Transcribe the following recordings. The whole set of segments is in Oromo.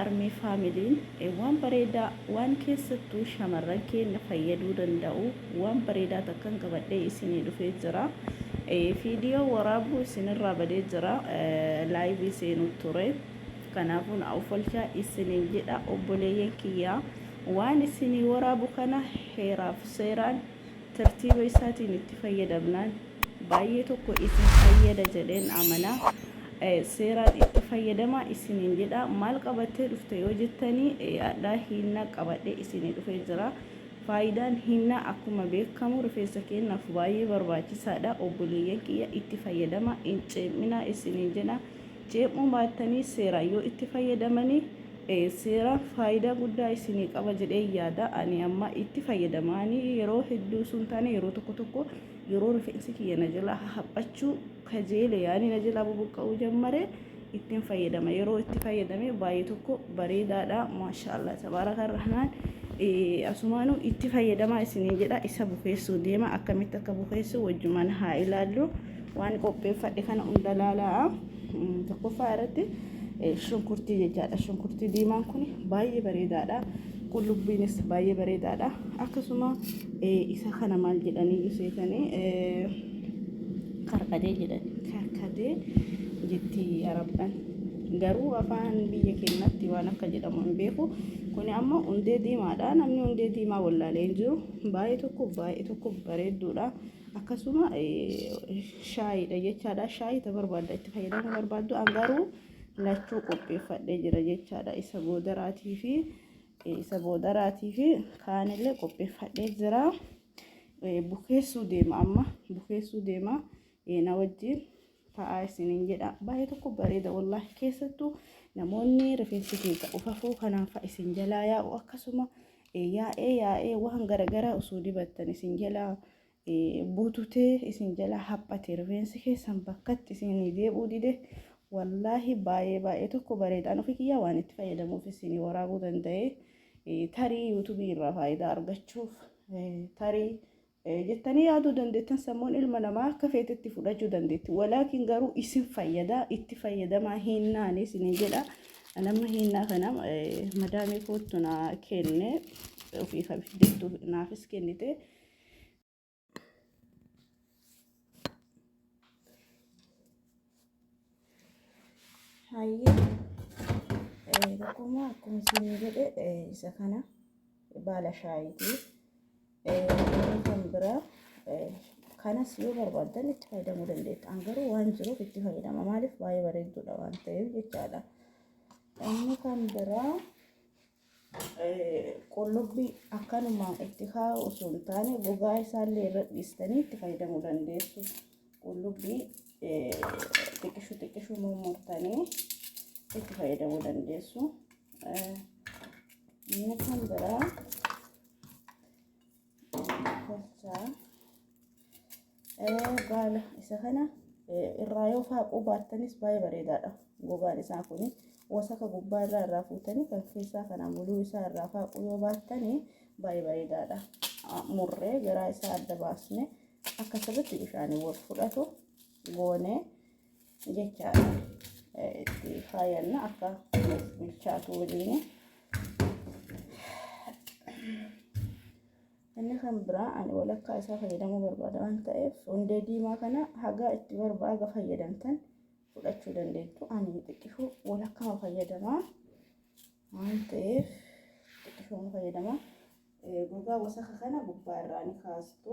Armee Faamiliin waan bareedaa waan keessattuu shamarran keenna fayyaduu danda'u waan bareedaa takkan qabadhee isinii dhufee jira. Fiidiyoo waraabuu isinirraa badee jira. Laayivii seenuu ture. Kanaafuu na ofalchaa isiniin jedha obboleeyyan kiyyaa. Waan isinii waraabu kana heeraaf seeraan Tartiiba isaatiin itti fayyadamnaan baay'ee tokko isin fayyada jedheen amana. Seeraan itti fayyadamaa isiniin jedha. Maal qabattee dhufte yoo jettanii hadhaa hiinna qabadhee isinii dhufee jira. Faayidaan hiinnaa akkuma beekamu rifeensa keenyaaf baay'ee barbaachisaadha. Obboleeyyan kiyya itti fayyadamaa hin ceeminaa isiniin jedha. Ceemuu baattanii seeraan yoo itti fayyadamanii dhiyeesseera. Faayidaa guddaa isinii qaba jedhee yaada. Ani amma itti fayyadama. Ani yeroo hedduu osoo hin taane yeroo tokko tokko yeroo rifeensi kiyya na jalaa haphachuu kajeele yaani na jalaa bubuqqa'uu jammare ittiin fayyadama. Yeroo itti fayyadame baay'ee tokko bareedaadha. Maashaallah tabaaraka rahmaan. Asumaanuu itti fayyadamaa isiniin jedha. Isa bukeessuu deema. Akkamitti akka bukeessu wajjumaan haa ilaallu. Waan qopheeffadhe kana hunda laalaa tokkoffaa irratti shunkurtii jechaadha. Shunkurtii diimaan kun baay'ee bareedaadha. Qullubbiinis baay'ee bareedaadha. Akkasuma isa kana maal jedhanii iseetanii karkatee jedhan karkatee jetti arabdhaan. Garuu afaan biyya keenyatti waan akka jedhamu hin beeku. Kun amma hundee diimaadha. Namni hundee diimaa wallaalee hin jiru. Baay'ee tokko baay'ee tokko bareedduudha. akkasuma shaayiidha jechaadha. Shaayii ta barbaadda itti fayyadamuu barbaaddu an garuu lachuu qopheeffadhee jira jechaadha. Isa boodaraatii fi isa boodaraatii fi kaanillee qopheeffadhee jira. Bukeessuu deema amma bukeessuu deema na wajjin. ta'aa isiniin jedha baay'ee tokko bareeda wallaahi keessattuu namoonni rifeensi keessa ufafuu kanaan fa'a isin jalaa yaa'u akkasuma yaa'ee yaa'ee waan garagaraa osoo dibattan isin jalaa bututee isin jalaa haphate rifeensi keessan bakkatti isin deebi'uu dide wallaahi baay'ee baay'ee tokko bareedaan ofii kiyyaa waan itti fayyadamuuf isin waraabuu danda'e tarii yuutubii irraa faayidaa argachuuf tarii jettanii yaaduu dandeettan sammuun ilma namaa akka feetetti fudhachuu dandeetti walaakin garuu isin fayyada itti fayyadamaa hiinnaani isin jedha nama hiinnaa kana madaamii koottu naa kenne ofii kan fidettu naafis kennite. Hayyee tokkummaa akkuma isin jedhe isa kana baala shaayiiti. Kan biraa kanas yoo barbaaddan itti fayyadamuu dandeettu. An garuu waan jiruuf itti fayyadama. Maaliif baay'ee bareedduudha waan ta'eef jechaadha. Inni kan biraa qullubbi akkanuma itti kaa'u osoo hin taane gogaa isaallee irra dhiistanii itti fayyadamuu dandeessu. Qullubbii xiqqishu xiqqishu mummurtanii itti fayyadamuu dandeessu. Inni kan biraa tolchaa baala isa kana irraa yoo faaquu baattanis baay'ee bareedaadha gogaan isaa kun wasaka gubbaa irraa irraa fuutanii kan keessaa kana muluu isaa irraa faaquu yoo baattanii baay'ee bareedaadha murree garaa isaa adda baasne akka sirriitti bishaanii wal fudhatu goonee. jechaadha itti faayanna akka nuuf bilchaatu waliin. Inni kan biraa ani walakkaa isaa fayyadamuu barbaada waan ta'eef hundee diimaa kana hagaa itti barbaaga fayyadamtan fudhachuu dandeettu. Ani xiqqishuu walakkaa fayyadamaa waan ta'eef xiqqishuu fayyadamaa. Gogaa wasaka kana gubbaa irraa ni kaastu.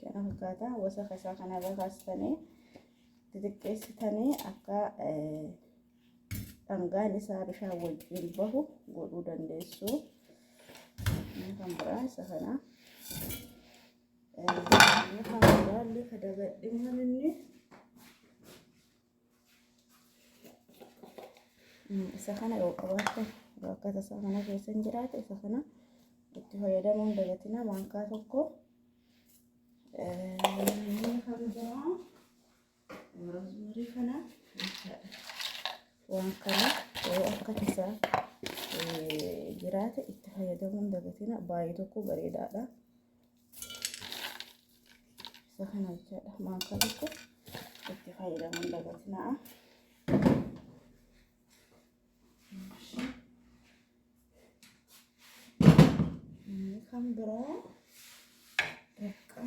kana fakkaata wasaka isaa kana irra kaastanii xixiqqeessitanii akka dhangaan isaa bishaan wajjin bahu godhuu dandeessu kan biraa isa kana kan biraallee ka dagadhimaan inni isa kana yoo qabaatte yoo akka tasaa kana keessa hin jiraate isa kana itti fayyadamuun dagatina maankaa tokko roozmarii kana waan kana yoo akka tasaa jiraate itti fayyadamuun dagatina baay'ee tokko bareedaadha. isa kana jechaadha maakaa tokko itti fayyadamuun dagatinaa. Kan biraa bakka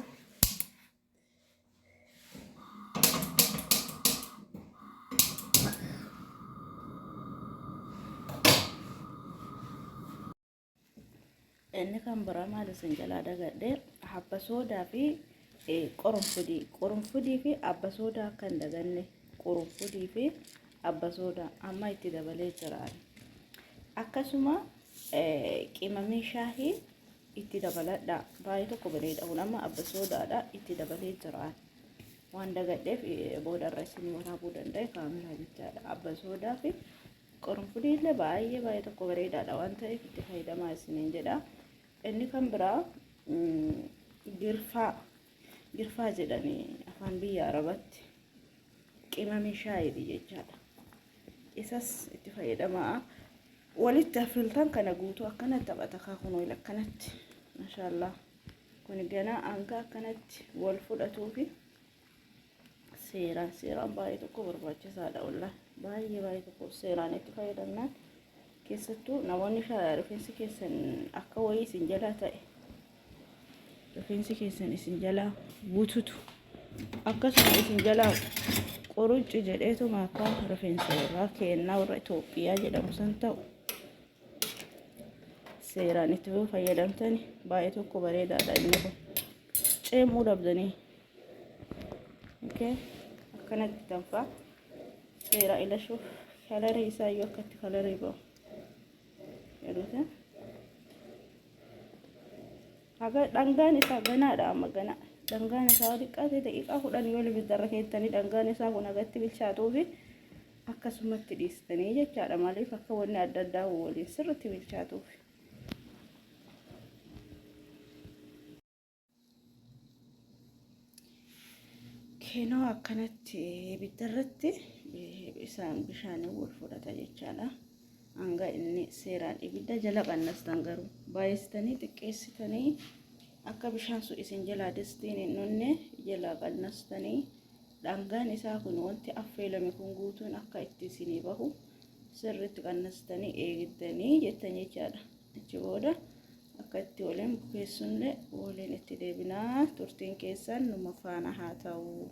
Inni kan biraa maal isin jalaa dagadhe habba soodaa fi qorunfudii qorunfudii fi abba soodaa akka hin daganne qorunfudii fi abba soodaa amma itti dabalee jiraan akkasuma qimamii shaahii itti dabaladha baay'ee tokko baleedha kun amma abba soodaadha itti dabalee jiraan waan dagadheef boodarra isin waraabuu danda'e kaameraa jechaadha abba soodaa fi Qurunfudii illee baay'ee baay'ee tokko bareedaadha waan ta'eef itti fayyadamaa isiniin jedha. Inni kan biraa girfaa girfaa jedhanii afaan biyya arabatti qimamii shaayiiti jechaadha. Isas itti fayyadamaa walitti affiltan kana guutuu akkana taphata kaakun wayil akkanatti mashaallaa kun ganaa hanga akkanatti wal fudhatuufi seeraan seeraan baay'ee tokko barbaachisaadha olla baay'ee baay'ee tokko seeraan itti fayyadamnaan keessattuu namoonni rifeensi keessan akka wayii isin jalaa ta'e rifeensi keessan isin jalaa bututu akkasuma isin jalaa qorucci jedheetuma akka rifeensa irraa keennaa warra Itoophiyaa jedhamu san ta'u seeraan itti fayyadamtani baay'ee tokko bareedaadha inni kun ceemuu dhabdanii okay akkanatti tanfa seeraa ilashuuf kalarii isaa yoo akkatti kalarii ba'u jedhuuti haga dhangaan isaa ganaadha amma ganaa dhangaan isaa yoo xiqqaate daqiiqaa kudhan yoo ibiddarra keessanii dhangaan isaa kun hagatti bilchaatuufi akkasumatti dhiistanii jechaadha maaliif akka wanni adda addaa waliin sirritti bilchaatuufi Keenoo akkanatti ibidda irratti isaan bishaanii wal fudhata jechaadha. Hanga inni seeraan ibidda jala qannastan garuu baay'istanii xiqqeessitanii akka bishaan sun isin jalaa distiin hin dhunne jalaa qannastanii dhangaan isaa kun wanti affeelame kun guutuun akka itti isinii bahu sirriitti qannastanii eegdanii jettan jechaadha. Achi booda Akka itti waliin bukeessunillee waliin itti deebina. Turtiin keessan numa faana haa ta'u.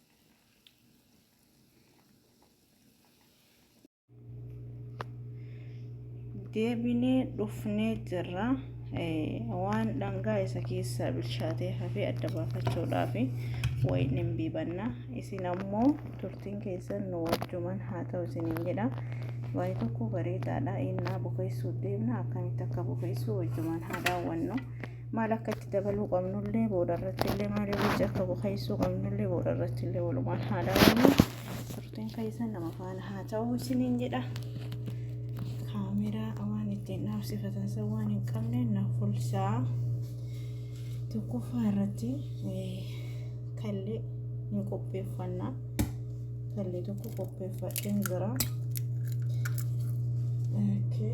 deebinee dhufnee jirra waan dhangaa isa keessaa bilchaatee hafee adda baafachuudhaaf wayiin hin biibanna isin ammoo turtiin keessan nu wajjuman haa ta'u isiniin jedha waa'ee tokko bareedaadha innaa bukeessuuf deemna akkamitti akka bukeessuu wajjumaan haa daawwannu maal akka itti dabaluu qabnullee booda irratti illee maal irratti akka bukeessuu qabnullee booda irratti illee walumaan haa daawwannu turtiin keessan nama faana haa ta'u isiniin jedha kaameraa waan ittiin dhaabsifatan san waan hin qabne na fulsaa tokkoffaa irratti kallee hin qopheeffannaa kallee tokko qopheeffadheen jira. Okay.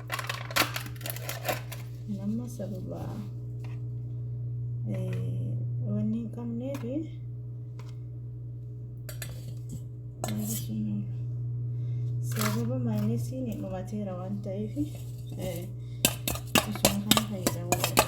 nama sababa wanni hin qabneef sababa maayinasiin dhumateera waan ta'eef isuma kana fayyadamuu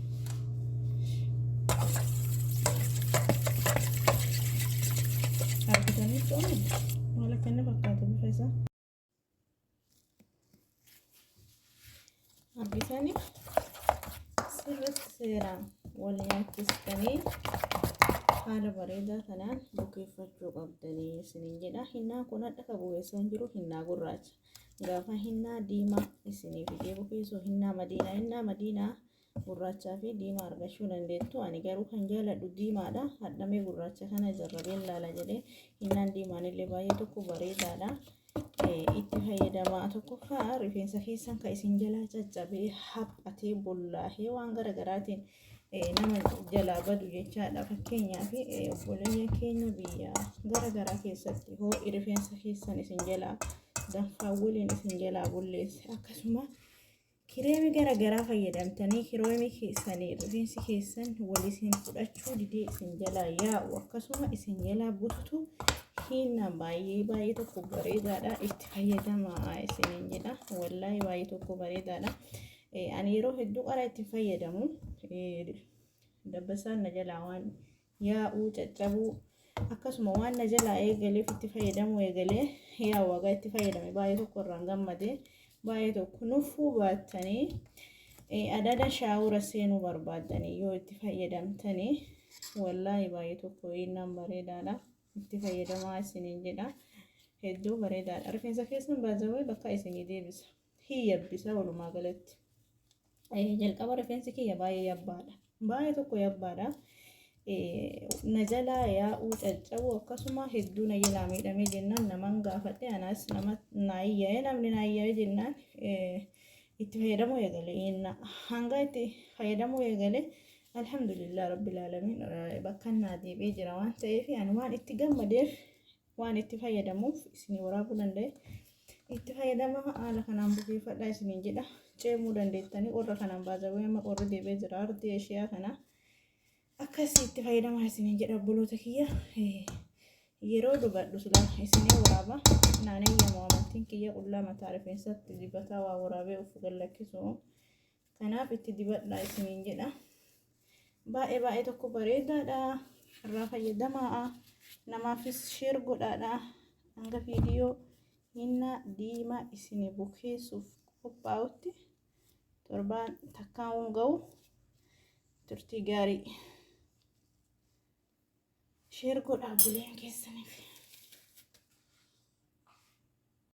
argitanii tooni maal akka inni fakkaatu bifa isaa argitanii sirriitti seeraan wal nyaachistanii haala bareedaa kanaan bukeeffachuu qabdanii isiniin jedha hinnaan kun hadha ka bukeessan jiru hinnaa gurraacha Gaafa hinnaa diimaa isinii fidee bukeessu hinnaa madiinaa hinnaa madiinaa gurraachaa fi diimaa argachuu dandeettu ani garuu kan jaaladhu diimaadha hadhamee gurraacha kana jarrabeen laala jedhee hinnaan diimaan illee baay'ee tokko bareedaadha itti fayyadamaa tokkoffaa rifeensa keessan kan isin jalaa caccabee haphatee bollaahee waan garagaraatiin nama jalaa badu jechaadha fakkeenyaaf obboleeyyan keenya biyya gara garaa keessatti hoo rifeensa keessan isin jalaa danfaa waliin isin jalaa bulleesse akkasuma kireemii gara garaa fayyadamtanii kireemii keessanii rifeensi keessan waliin fudhachuu didee isin jalaa yaa'u akkasuma isin jalaa bututu hiinna baay'ee baay'ee tokko bareedaadha itti fayyadamaa isiniin jedha wallaahi baay'ee tokko bareedaadha. Ani yeroo hedduu qara itti fayyadamu dabbasaan na jalaa waan yaa'uu caccabuu akkasuma waan na jalaa eegaleef itti fayyadamuu eegalee yaa wagaa itti fayyadame baay'ee tokko irraan gammade baay'ee tokko nuffuu baattanii adada shaawura seenuu barbaaddanii yoo itti fayyadamtanii wallaahi baay'ee tokko innaan bareedaadha itti fayyadamaa isiniin jedha hedduu bareedaadha rifeensa keessan baazawee bakka isinii deebisa. hin yabbisa walumaa galatti. Jalqaba rifeensi kiyya baay'ee yabbaadha. Baay'ee tokko yabbaadha. Na jalaa yaa'uu caccabuu akkasuma hedduu na jalaa miidhamee jennaan naman gaafadhe anas nama naayyaa'ee namni naayyaa'ee jennaan itti fayyadamuu eegale. Hanga itti fayyadamuu eegale alhamdulillah rabbil alamin bakka naa deebi'ee jira waan ta'eef ani waan itti gammadeef waan itti fayyadamuuf isinii waraabuu danda'e itti fayyadama haala kanaan bukeeffadhaa isiniin jedha ceemuu dandeettanii warra kanaan baazawee amma qorri deebee jira ardii eshiyaa kana akkasii itti fayyadamaa isiniin jedha obboloota kiyya yeroo dubadhu silaa isinii waraaba naanee yemmoo amantiin kiyya qullaa mataa rifeensatti dibataa waa waraabee ufu gallakkisuu Kanaaf itti dibadhaa isiniin jedha. Baay'ee baay'ee tokko bareedaadha. Irraa fayyadamaa. Namaafis sheer godhaadha. Hanga viidiyoo hinna diimaa isinii bukeessuuf qophaa'utti torbaan takkaan ga'u turtii gaarii. Sheer godhaa buleen keessaniif.